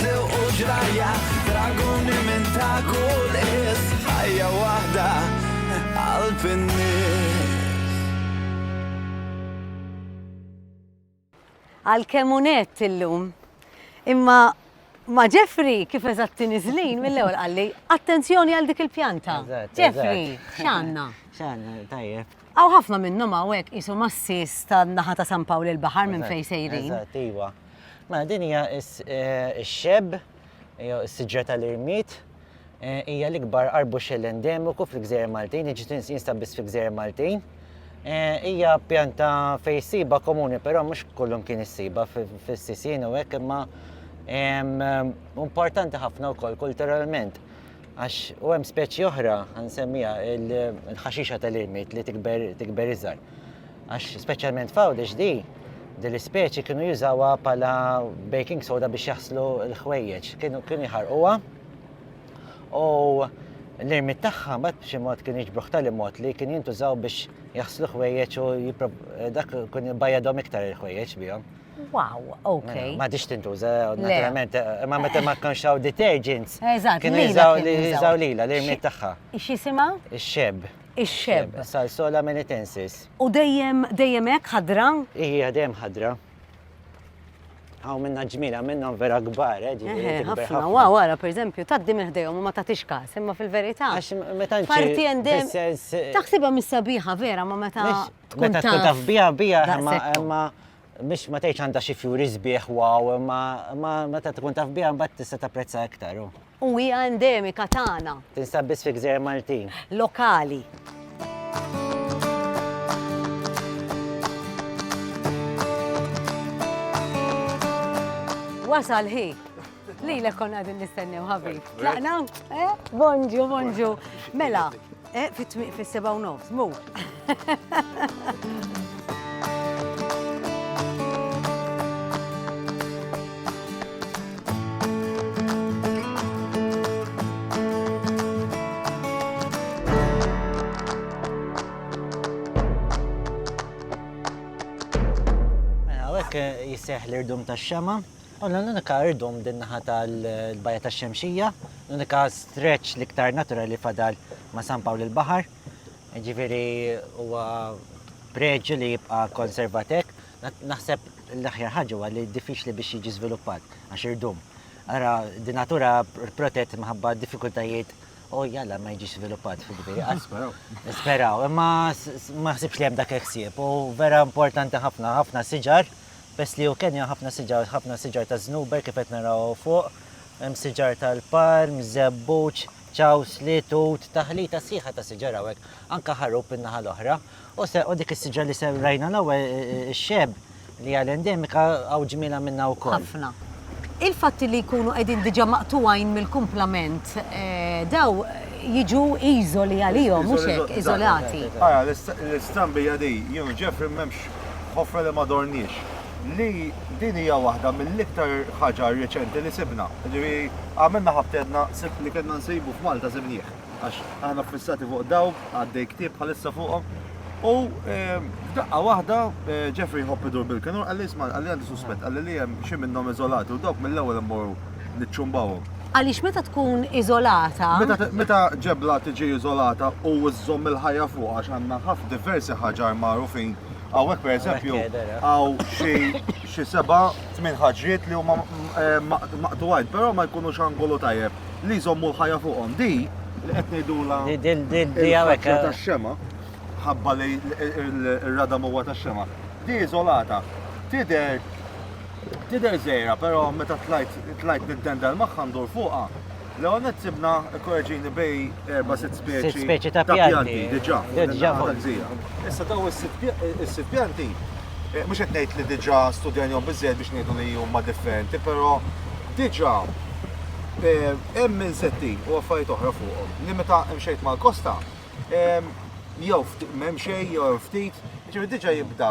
Sewq u ġrajja, draguni minn ta' kull is, ħajja waħda qalb in-nies. Għalkemm hu nett illum. Imma ma' Jeffrey kif eżatt tiniżlin mill-ewwel qalli, attenzjoni għal dik il-pjanta. Jeffrey, x'għandna? X'għandna, tajjeb. Hawn ħafna minnhom hawn hekk qishom għas-sies tan-naħa ta' San Pawl il-Baħar minn fejn sejrin. Eżatt, iva. Mela din hija x-xeb jew is-siġra tal-irmied hija l-ikbar arbuxell endemiku fil-Gżejjer Maltin, jiġi tinstab biss fil-Gżejjer Maltin. Hija pjanta fejn issibha komuni, però mhux kullum kien issiba fis-sisien u hekk imma importanti ħafna wkoll kulturalment għax u hemm speċi oħra nsemmija il-ħaxixa tal-irmied li tikber iżgħar. Għax speċjalment f'Għawdex di, din l-ispeċi kienu jużawha bħala baking soda biex jaħslu l-ħwejjeġ. Kienu kienu jħarquha u l-irmit tagħha mbagħad b'xi mod kienu jiġbruh tal mod li kien jintużaw biex jaħslu ħwejjeġ u dak kun jibajjadhom iktar il-ħwejjeġ bihom. Wow, ok. Mela, ma diċ tintuża, naturalment, eh, ma meta ma kienx hawn detergents. Eżatt, kienu jiżaw lila li jmiet tagħha. X'jisimha? Ix-xeb. ix-xebb. Salsola melitensis. U dejjem dejjem hekk ħadra? Hija dejjem ħadra. Hawn minna ġmila minnhom vera kbar, eh, ġifieri eh, tikber ħafna. Wa wara pereżempju tgħaddi minn ħdejhom u ma tagħtix każ, imma fil-verità. Għax meta Parti endem. Taħsibha mis-sabiħa vera ma meta tkun taf biha biha imma biex ma tgħidx għandha xi fjuri sbieħ wow, imma imma meta tkun taf biha mbagħad tista' tapprezza iktar. u. U hija endemika tagħna. Tinsab biss fi gżejjer Maltin. Lokali. Wasal ħin. Lilek kon għadin nistennew ħabib. Tlaqna? Eh? Bonġu, bonġu. Mela, eh, fit-tmiq fis-seba' u nofs, mu. seħ l-irdum ta' xema Konna l-unika irdum din naħa tal-Bajja tax-Xemxija, l-unika stretch l-iktar naturali li fadal ma' San Pawl il-Baħar. Ġifieri huwa preġju li jibqa' konservatek. Naħseb l-aħjar ħaġa huwa li diffiċli biex jiġi żviluppat għax irdum. Ara, di natura protett minħabba diffikultajiet u jalla ma jiġix żviluppat fil-ġifieri. Nisperaw. Nisperaw, imma ma ħsibx li hemm dak il-ħsieb u vera importanti ħafna, ħafna siġar. Peress li hu kenja hemm ħafna siġar, ħafna siġar ta' żnuber kif qed naraw hawn fuq, hemm siġar tal-palm, żebbuġ, ċawsli, tut, taħlita sħiħa ta' siġar hawnhekk, anke ħarub in-naħa l-oħra. U se u dik is-siġra li se rajna l-ewwel ix-xeb li hija l-endemika hawn ġmielha minnha wkoll. Ħafna. Il-fatt li jkunu qegħdin diġà maqtugħin mill-kumplament dawn jiġu iżoli għalihom, mhux hekk, iżolati. Ara, l-istrambija din, you know, Jeffrey m'hemmx ħofra li ma dorniex, li din hija waħda mill-iktar ħaġa reċenti li sibna. Jiġifieri għamilna ħabtedna, sibt li kellna nsibu f'Malta sibnieh, għax aħna ffissati fuq dawk, għaddej ktieb bħalissa fuqhom. U f'daqqa waħda Jeffrey jħobb idur bil-kinur, qalli isma' qalli għandi suspett, qalli li hemm xi minnhom iżolati u dawk mill-ewwel imorru. niċċumbawhom. Għaliex meta tkun iżolata. Meta ġebla tiġi iżolata u żżomm il-ħajja fuqha għax għandna ħafna diversi ħaġar magħrufin hawnhekk pereżempju hawn xi xi seba' tmien ħaġriet li huma maqtugħin, però ma jkunux angolu tajjeb li jżommu l-ħajja fuqhom. Di li qed ngħidulha il-faċċja tax-xema, ħabba li r-radam huwa tax-xema, di iżolata tidher Tidher żgħira però meta tlajt tlajt nintendel magħha ndur fuqha, l-ewwel nett sibna, ikkoreġini, bejn erba' sitt speċi. Sitt speċi ta' pjanti. Diġà. Diġà. Issa dawn is-sitt pjanti, mhux qed ngħid li diġà studjanihom biżżejjed biex ngħidu li huma differenti, però diġà hemm insetti u affarijiet oħra fuqhom li meta mxejt mal-kosta jew m'hemm xejn jew hemm ftit, ġifieri diġà jibda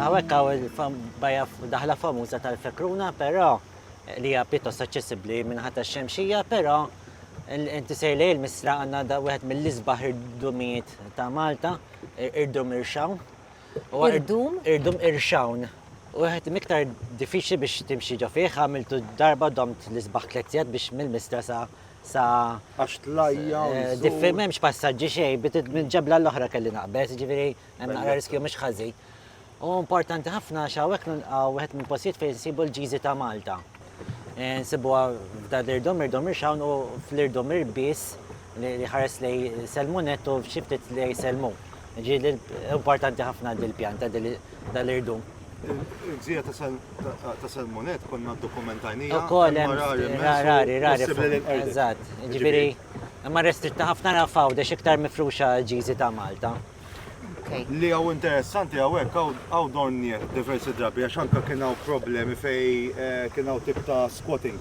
Hawnhekk hawn il-bajja daħla famuża tal-Fekruna, però li hija pjuttost aċċessibbli minħa tax-Xemxija, però inti sejr lejn il-Misra għandna da wieħed mill-isbaħ irdumijiet ta' Malta, irdum irxawn. Irdum? Irdum irxawn. U wieħed miktar diffiċli biex timxi ġo fih, għamiltu darba domt l-isbaħ tliet sigħat biex mill-Misra sa sa. Għax tlajja. Diffi m'hemmx passaġġi xejn, minn ġebla l-oħra kelli naqbeż, ġifieri Hemm naqra riskju mhux ħażin. U importanti ħafna għax hawnhekk nilqgħu wieħed minn postijiet fejn nsibu l-ġiżi ta' Malta. Eh, nsibuha f'da l-irdom, irdom irxawn u fl-irdom irbis li ħares li selmunet u xiftit li selmu. Ġi importanti ħafna dil-pjanta dal-irdum. Il-gżira ta' Salmonet konna dokumentajnija. U koll, rari, rari, rari. Eżat, ġibiri, ma restritta ħafna rafaw, dex iktar mifruxa ġizi ta' Malta. Li għaw interessanti għawek, għaw donniet diversi drabi, għax anka kien għaw problemi fej eh, kien għaw tip ta' squatting.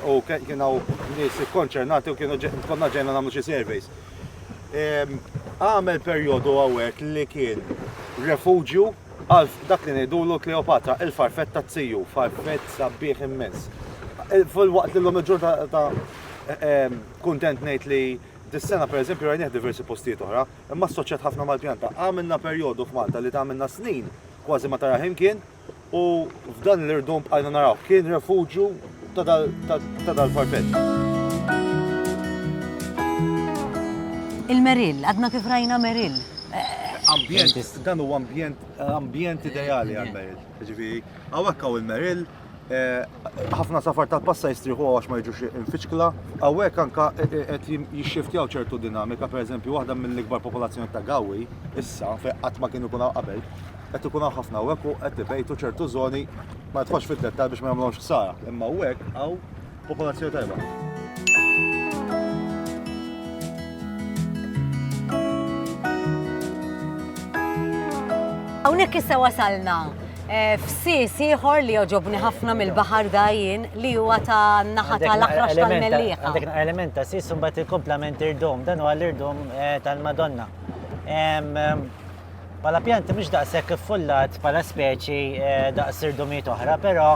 U kien għaw nis konċernati u kienu konna ġejna namlu xie surveys. Għamel periodu għawek li kien refugju għal dak li nejdulu Kleopatra, il-farfetta t-siju, farfett sabbieħ immens. Fil-waqt li l-lum il-ġurnata kontent nejt li Dis-sena pereżempju rajnieh diversi postijiet oħra, imma assoċjat ħafna mal-pjanta. Għamilna perjodu f'Malta li għamilna snin kważi ma tarah imkien u f'dan l-irdum bqajna narawh. Kien refuġju ta' dal-farfeġġ. Il-Merill, għadna kif rajna Merill. Dan huwa ambjent ideali għall-Merill. Jiġifieri hawn hekk hawn il-Merill, Ħafna safar tal-passa jistrieħu għax ma jiġux infiċkla. Hawnhekk anka qed jixxiftjaw ċertu dinamika, pereżempju waħda mill-ikbar popolazzjoni ta' gawi issa fejn qatt ma kienu ikun qabel, qed ikun hawn ħafna hawnhekk u qed ibejtu ċertu żoni ma nitħox fid-dettall biex ma jagħmluhomx ħsara. Imma hawnhekk hawn Popolazzjoni tajba. Hawnhekk issa wasalna eh, f'sis ieħor li joġobni ħafna mill-baħar dajjin li huwa ta' naħa tal-aħrax tal-mellieħa. Għandek element ta' sis mbagħad il-komplement irdom, dan huwa l-irdom eh, tal-Madonna. Bħala pjant mhux daqshekk iffullat bħala speċi eh, daqs irdumiet oħra, però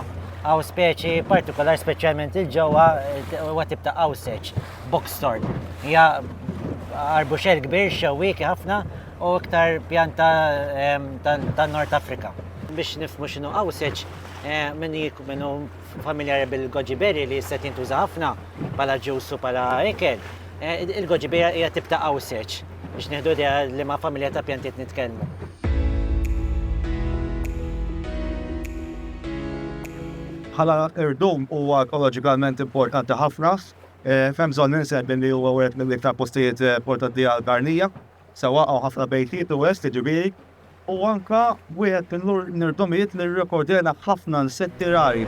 għaw speċi partikolar speċjalment il-ġewwa eh, huwa tip ta' għawseċ, boxthorn. Hija arbuxel kbir xewwieki ħafna u iktar pjanta eh, tan-Nord Afrika. Biex nifmu x'inhu għawseċ, minnu familjari bil-goji berry li jista' jintuża ħafna bħala ġus u bħala ikel. Eh, il-goji berry hija tibta' qawseċ biex nieħdu idea li ma' familja ta' pjantiet nitkellmu. bħala irdum huwa ekoloġikament importanti ħafna. Eh, Fem bżonn ninseb li huwa wieħed mill-iktar postijiet eh, portati għal-karnija, sewa għaw ħafna bejtiet u west ġibiri, Hu anke wieħed mill-irdomijiet li rrekordjena ħafna insetti rari.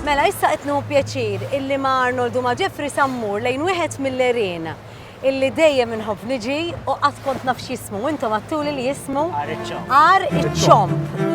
Mela issa qed nieħu pjaċir illi ma' Arnold u ma' Jeffrey sammur lejn wieħed mill-għerien illi dejjem inħobb niġi u qatt kont naf x'jismu, u intom għattuli li jismu Għar iċ-Ċomb.